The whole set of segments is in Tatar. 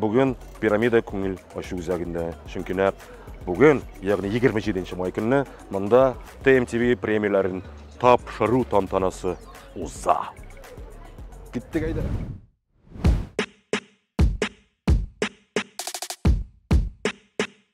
Бүген пирамида күңел ачу үзәгендә, чөнки нәкъ бүген, ягъни 27 май көнне монда ТМТВ премияләрен тапшыру тантанасы уза. Киттек әйдә.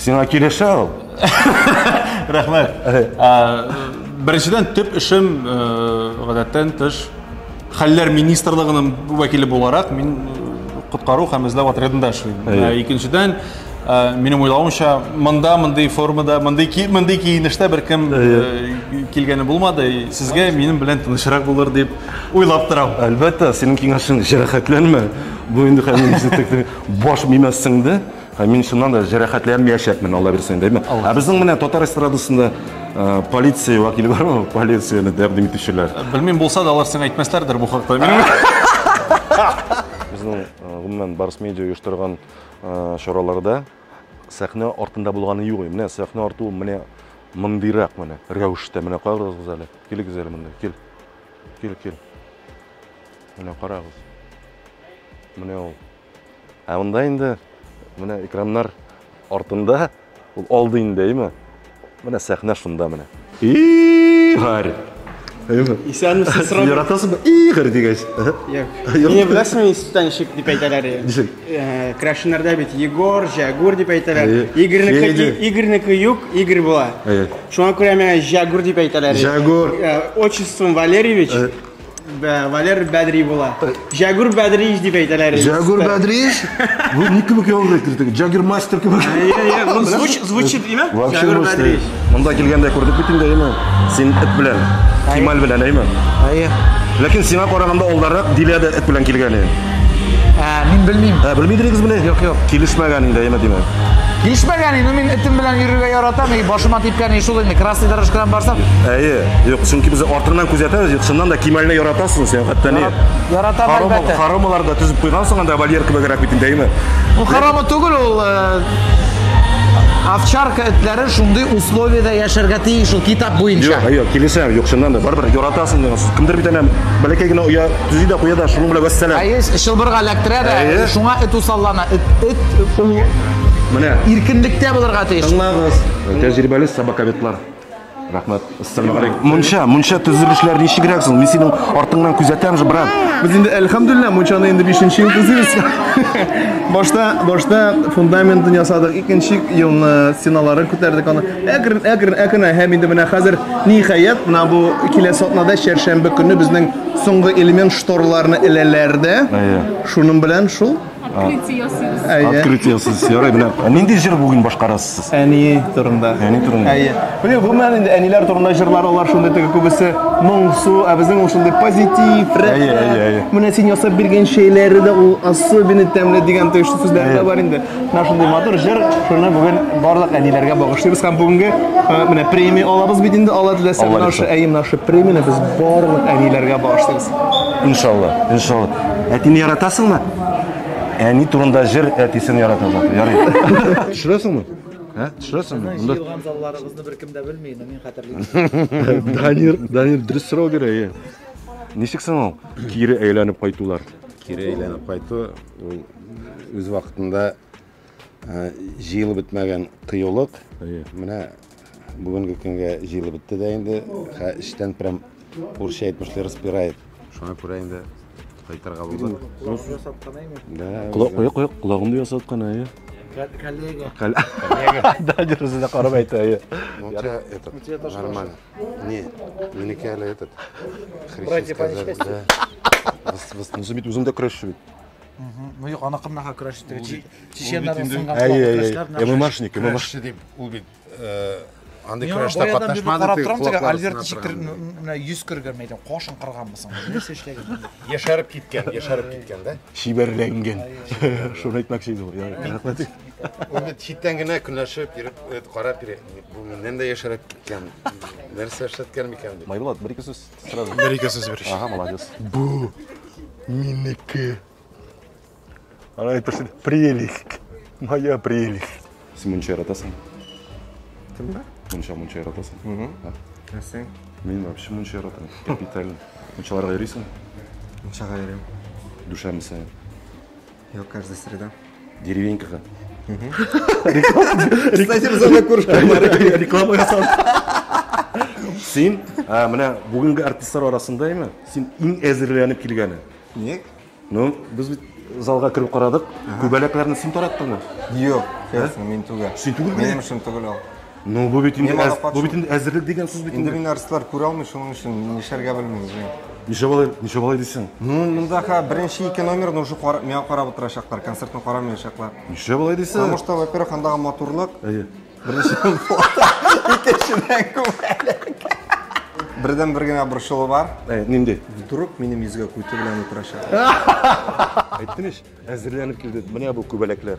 Сиңа килешә ул. Рәхмәт. Беренчедән төп эшем э, гадәттән тыш хәлләр министрлыгының вәкиле буларак мин э, коткару һәм эзләү отрядында эшлим. Ә икенчедән э, минем уйлавымча монда мондый формада, мондый мондый киенештә беркем килгәне булмады. Сезгә минем белән тынычрак булыр дип уйлап торам. Әлбәттә, синең киңәшең җәрәхәтләнмә. Бу инде хәмин баш мимәссеңдә. Ә мин шуннан да җәрәхәтләнмәячәкмен, Алла бирсә инде, әйме? Ә безнең менә татар эстрадасында полиция вәкиле бармы? Полицияне тәкъдим итүчеләр. Белмим, булса да алар сиңа әйтмәсләрдер бу хакта. Минем Безнең, гомумән, Барс Медиа оештырган чараларда сәхнә артында булганы юк. Менә сәхнә арты ул менә мондыйрак менә рәвештә. Менә карагыз әле. Килегез әле монда. Кил. Кил, кил. Менә карагыз. Менә ул. Ә монда инде менә экраннар артында ул алды инде, әйме? Менә сәхнә шунда менә. Игорь! Әйме? Исәнмесез, Роман. Яратасызмы? Игорь дигәч. Мені беләсеңме институттан ничек дип әйтәләр? Ничек? Крашеннарда бит Егор, Җәгүр дип әйтәләр. Игорьнеке Игорьнеке юк, Игорь була. Шуңа күрә миңа Җәгүр дип әйтәләр. Җәгүр. Отчеством Валерьевич. Валер Бәдри була. Җәгүр Бәдрич дип әйтәләр. Җәгүр Бәдриш? Бу ни кебек ял әйтелде? Җагир мастер кебек. Звучит, звучит, имя? Җәгүр Бәдриш. Монда килгәндә күрдек бит инде, әйме? Син эт белән, Кемаль белән, әйме? Әйе. Ләкин сиңа караганда алдарак Дилә дә эт белән килгән иде. Ә, мин белмим. Ә, белмидегез менә? Юк, юк. Килешмәгән инде, әйме, димәк. Килешмәгән инде, мин этем белән йөрергә яратам, и башыма типкән и шул инде. Красный дорожкадан барсам, Әйе. Юк, чөнки без артыннан күзәтәбез, юк, чыннан да Кимальне яратасың сен, хәтта не. Яратам әлбәттә. Харамалар да төзеп куйгансың анда вольер кебегрәк бит инде, әйме? Бу харама түгел ул э, овчарка этләре шундый условиядә яшәргә тиеш ул китап буенча. Юк, юк, килешәм, юк, чыннан да барыбер яратасың дигән сүз. Кемдер бит әнә бәләкәй генә оя төзи дә куя да шуның белән вәссәлам. Әйе, чылбырга эләктерә дә, Әйе. шуңа эт усаллана. Эт, эт ул Менә, иркенлектә булырга тиеш. тыңлагыз, тәҗрибәле собаковедлар. Рәхмәт. Ассаламу алейкум. Мунча, мунча төзелешләр ничегрәк соң? Мин синең артыңнан күзәтәм же, брат. Без инде әлхәмдулилла мунчаны инде 5 нче ел төзибез. Башта, башта фундаментын ясадык, икенче елны стеналарын күтәрдек аны. Әкрен, әкрен, әкрен һәм инде менә хәзер ниһаять менә бу киләсе атнада чәршәмбе көнне безнең соңгы элемент шторларны эләләр дә. Шуның белән шул Открытие ясыйбыз. Әйе. Открытие ясыйбыз. Ярый, менә. Нинди җыр бүген башкарасыз сез? Әни турында. Әни турында. Әйе. Менә гомумән инде әниләр турында җырлар алар шундый теге күбесе моңсу, ә безнең ул шундый позитив, рәхәт. Әйе, әйе, әйе. Менә син ясап биргән чәйләре дә ул особенно тәмле дигән тиешле сүзләр дә бар инде. Менә шундый матур җыр, шуны бүген барлык әниләргә багышлыйбыз һәм бүгенге э, менә премия алабыз бит инде, алла теләсә, Алла наша, әйе, наша премияне без барлык әниләргә багышлыйбыз. Иншалла, иншалла. Әтине яратасыңмы? Әни турында җыр әтисен ярата заты. Ярый. Төшерәсеңме? Ә? Төшерәсеңме? Монда Җыелган залларыгызны беркем дә белми, инде мин хәтерлим. Данир, Данир дөрес сорау бирә. е. Ничек соң ул кире әйләнеп кайтулар? Кире әйләнеп кайту ул үз вакытында Ә, җыелып бетмәгән кыюлык. Әйе. Менә бүгенге көнгә җыелып бетте дә инде. Хә, эчтән прям урысча әйтмешли распирает. Шуңа күрә инде кайтырга булдык. Кулак ясаткан әйме? Да, Колак, үзләр- кулак, кулак, колагымды ясаткан, әйе. Кә- Коллега. Кәл- Да, дөресен дә карап әйтә, әйе. Ну, у тебя этот, тебя тоже нормально. Не, минеке әле этот, Братья по христианская, да. Выс- выс- Ну, син бит үзең дә көрәшче бит. Ну юк, аны кымнаха көрәш итте. Чеченнар сынган көрәшләр. Әйе, ММАшник, ММАш. Дип ул бит э, андый көрәштә катнашмады. Карап торам теге Альберт Чиктер менә 100 кергән мәйдан, кашын кырганмы соң? Нәрсә эшләгән? Яшәреп киткән, яшәреп киткән да. Шибәрләнгән. Шуны әйтмәкче иде ул. Рәхмәт. Ул бит читтән генә көнләшеп йөреп, э, карап йөри. Бу миннән дә яшәреп киткән. Нәрсә эшләткән микән дип. Майбулат, бер ике сүз. Сразу. Бер ике сүз бирүче. Ага, молодец. Бу минеке. Ана әйтерсең, прелесть. Моя прелесть. Син мунча яратасың? Кемдә? Мунча, мунча яратасың? Угу. Ә син? Мин вообще мунча яратам. Капитально. Мунчаларга йөрисең? Мунчага йөрим. Душамисың? Йо, каждая среда. Деревенькага. Кстати, без анда күрешкәннәр. Реклама ясадык. Син, ә, менә бүгенге артистлар арасында име? Син иң әзерләнеп килгәне. Ник? Ну, без бит залга кереп карадык. Күбәләкләрне син тараттыңмы? Юк, честно, мин түгел. Син түгел мени? Минем эшем түгел ул. Ну, бу бит инде Мин әз- бу бит инде әзерлек дигән сүз бит инде. Инде мин артистлар күрә алмый, шуның өчен нишләргә белмим үзем. Ничә балай, ничә балай дисең? Ну, монда ха беренче ике номерны уже кара, миңа карап утырачаклар, концертны карамаячаклар. Ничә балай дисең? Потому что, во-первых, андагы матурлык, Әйе. беренчедән икенчедән күбәлек. Бердән бер генә борчылу бар. Әй, нинди? Вдруг минем йөзгә куйты белән утырачак. Әйттем ич, әзерләнеп килде. Менә бу күбәләкләр.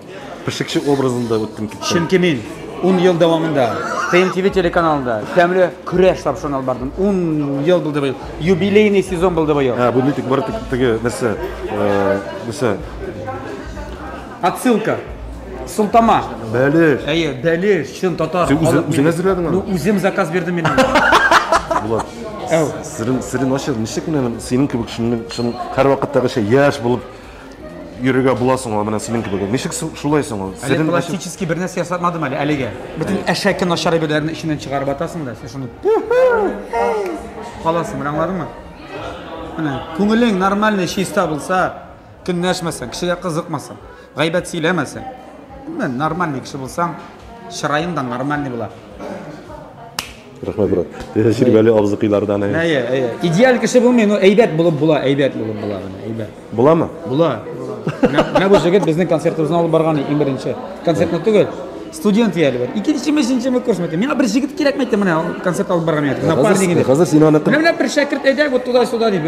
Пешекче образында үттем киттем. Чөнки мин 10 ел дәвамында ТНТВ телеканалында тәмле көрәш тапшыруын алып бардым. 10 ел булды быел. Юбилейный сезон булды быел. Ә, бу нитик бар теге нәрсә, э, нәрсә? Отсылка. Султама. Бәлеш. Әйе, бәлеш, чын татар. Син үзең- үзең әзерләдең аны? Ну, үзем заказ бирдем мин. Булат. Әу. Сирин, сирин ашыр, ничек менә синең кебек шуның шун һәрвакыттагыча яшь булып Йөрергә була соң ул менә синең кебегә. Ничек шулай соң ул? Әле пластический бер нәрсә ясатмадым әле әлегә. Бөтен әшәке начар әйберләрне эченнән чыгарып атасың да, син шуны каласың, менә аңладыңмы? Менә күңелең нормальный, чиста булса, көнләшмәсәң, кешегә кызыкмасаң, гайбәт сөйләмәсәң, менә нормальный кеше булсаң, чыраең да нормальный була. Рәхмәт, брат. Тәҗрибәле абзыкайлардан. Әйе, әйе. Идеаль кеше булмый, но әйбәт булып була, әйбәт булып була гына, әйбәт. Буламы? Була. Менә бу җегет безнең концертыбызны алып барган иң беренче. Концертны түгел. Студент әле бер. Икенчеме, өченчеме курсмы? Миңа бер җегет кирәкме итте менә концерт алып барган ятып. Напарник инде. Хәзер син аны Менә бер шәкерт әйдәк вот туда-сюда дип.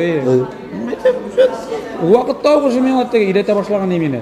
Вакыт тау уже миңа өйрәтә башлаган именно.